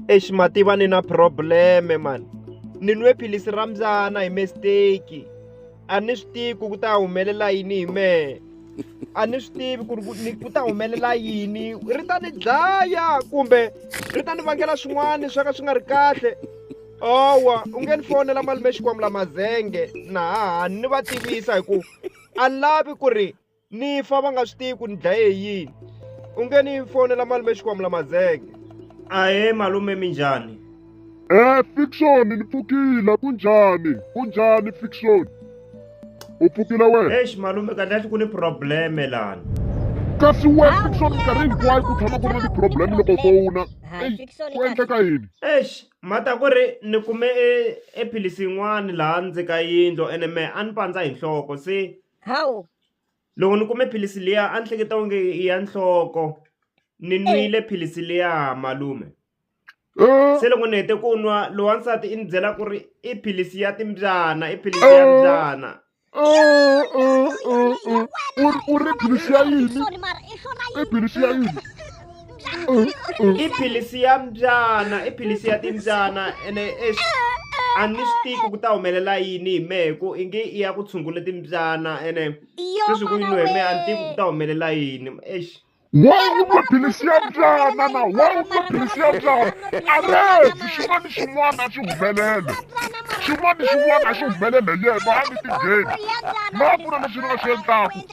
exi mativa ni na problem-e mani ni nwe philisi ra mbyana hi mistake a ni swi tivi ku ku ta humelela yini hi mehe a ni swi tivi ku ri ku ni ku ta humelela yini ri ta ni dlaya kumbe ri ta ni vangela swin'wana swa ka swi nga ri kahle owa u nge ni fonela malume xikwamula mazenge na haha ni va tivisa hi ku a ni lavi ku ri ni fa va nga swi tivi ku ni dlaye hi yini u nge ni fonela malume xikwamula mazenge ahe malume mi njhani Eh Fiction ni pfukile kunjhani kunjhani Fiction u pfukile wena eish malume kahle kahle ku ni probleme lani kasi we Fiction minkarhi hinkwayo ku tshama ku ri na ti-problem loko fona ku endleka yini eish mata ku ri ni kume e, ephilisi yin'wani laha ndzi ka yindlo ene me a ni pandza hi nhloko se hawu loko ni kume philisi liya a ni hleketa onge i ya nhloko ni nwile philisi liya malume Eh, se loko ni hete ku nwa loyi wansati i ni byela ku ri i philisi ya timbyana i philisi ya mbyana eh, eh, eh, eh. U ri- u ri philisi ya yini sorry mara i swona i philisi ya yini i philisi ya mbyana i philisi ya timbyana ene ex a ni swi tivi ku ta humelela yini hi mehe ku i nge i ya ku tshungula timbyana ene sweswi ku yini hi mehe a ni tivi ku ta humelela yini ex wawumaphilisi ya byana na wawumaphilisi ya byana arezi xin'wana xin'wana xi humelele xin'wana xin'wana xi humelele yena a ni tingheni ma ku na lexi ni nga xi endlaku